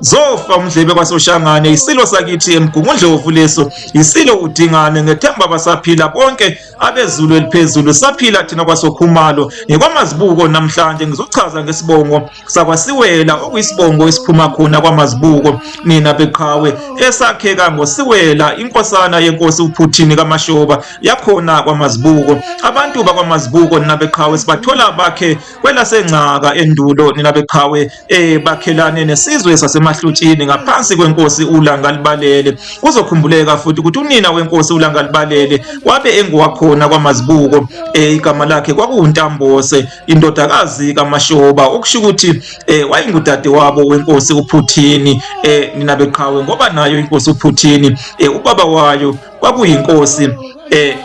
zofa umdlebe kwasoshangane yisilo sakithi emgungundlovu leso yisilo udingane ngethemba basaphila bonke abezulu eliphezulu saphila thina kwasokhumalo ngikwamazibuko namhlanje ngizochaza ngesibongo sakwasiwela okuyisibongo esiphuma khona kwamazibuko nina beqhawe esakheka ngosiwela inkosana yenkosi uphuthini kamashoba yakhona kwamazibuko abantu bakwamazibuko nina beqhawe sibathola bakhe kwelasencaka endulo nina beqhawe eh bakhelane nesizwe sasemahlutshini ngaphansi kwenkosi uLangalibalele kuzokhumbuleka futhi ukuthi unina wenkosi uLangalibalele wabe engowakhona kwamazibuko eh igama lakhe kwakuwuNtambose indodakazi kaMashoba okusho ukuthi eh wayengudade wabo wenkosi uPhuthini eh nina beqhawe ngoba nayo inkosi uPhuthini eh ubaba wayo kwakuyinkosi eh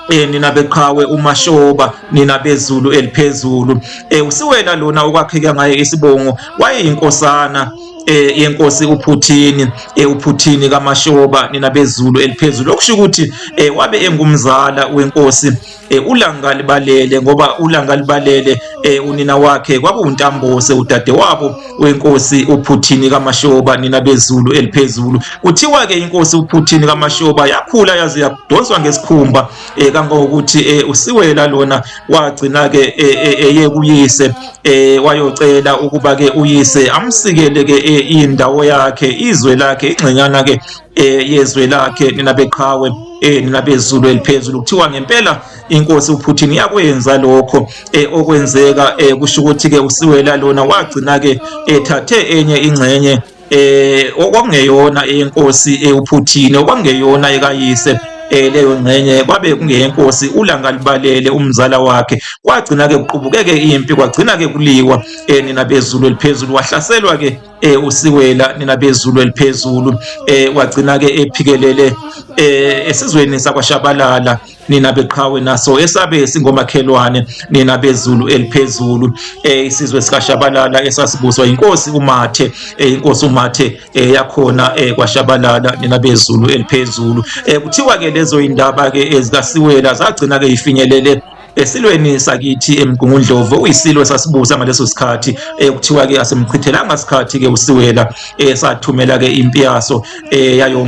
Eh, nina beqhawe umashoba nina bezulu eliphezulu eh, usiwena lona okwakheke ngaye isibongo wayeyinkosana eh yenkosi uPhuthini eh uPhuthini kaMashoba nina bezulu eliphezulu okusho ukuthi eh wabe engumzala wenkosi eh ulanga libalele ngoba ulanga libalele eh unina wakhe kwakuwuntambose udade wabo wenkosi uphuthini kamashoba nina bezulu eliphezulu kuthiwa ke inkosi uphuthini kamashoba yakhula yaze yadonswa ngesikhumba eh, kangangokuthi eh, usiwela lona wagcina ke eh, eh, eye eh, kuyise eh, wayocela ukuba ke uyise amsikele ke eh, indawo yakhe izwe lakhe ingxenyana ke eh, yezwe lakhe nina beqhawe eh, nina bezulu eliphezulu kuthiwa ngempela inkosi uPutin yakwenza lokho eh, okwenzeka eh, kusho ukuthi ke usiwela lona wagcina ke ethathe eh, enye ingxenye eh okwangeyona inkosi eh, uPutin okwangeyona ekayise eh, leyo ngxenye kwabe kungeyenkosi ulanga libalele umzala wakhe kwagcina ke kuqubukeke impi kwagcina ke kuliwa eh, nina bezulu eliphezulu wahlaselwa ke eh, usiwela nina bezulu eliphezulu eh, wagcina ke ephikelele eh, esizweni sakwashabalala nina beqhawe naso esabe singomakhelwane nina bezulu eliphezulu eh, isizwe sikashabalala esasibuswa inkosi umathe eh, inkosi umathe eh, yakhona kwashabalala nina bezulu eliphezulu kuthiwa ke lezo indaba ke ezikasiwela zagcina ke ifinyelele esilweni sakithi emgungundlovu uyisilo sasibusa ngaleso sikhathi eh, kuthiwa ke asimchithelanga sikhathi ke usiwela esathumela eh, ke impi yaso eh, yayo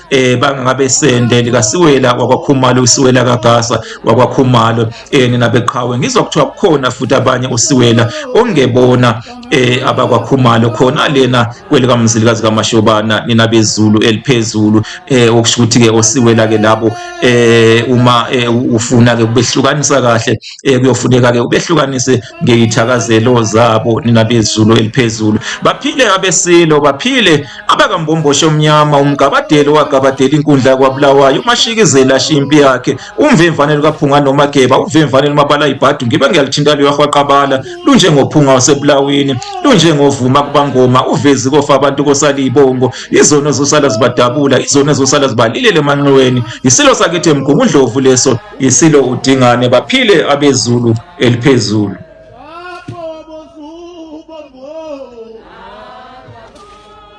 eh bangabesende likasiwela wakwakhumalo usiwela kagasa wakwakhumalo eh nina beqhawe ngizwa kuthiwa kukhona futhi abanye usiwela ongebona eh abakwakhumalo khona lena kwelika mzilikazi kamashobana nina bezulu eliphezulu eh okusho ukuthi ke osiwela ke labo eh uma eh, ufuna ke ubehlukanisa kahle eh kuyofuneka ke ubehlukanise ngeyithakazelo zabo nina bezulu eliphezulu baphile abesilo baphile abakambomboshe omnyama umgabadeli owagabadela inkundla kwabulawayo umashikizela ashiya impi yakhe umvemvane lukaphunga nomageba uvemvane lumabala ibhadu ngibe ngiyalithinta luyahwaqabala lunjengophunga wasebulawini lunjengovuma kubangoma uvezi kofa abantu kosala iy'bongo izona ezosala zibadabula izona ezosala zibalilele emanxiweni yisilo sakithi emgungundlovu leso yisilo udingane baphile abezulu eliphezulu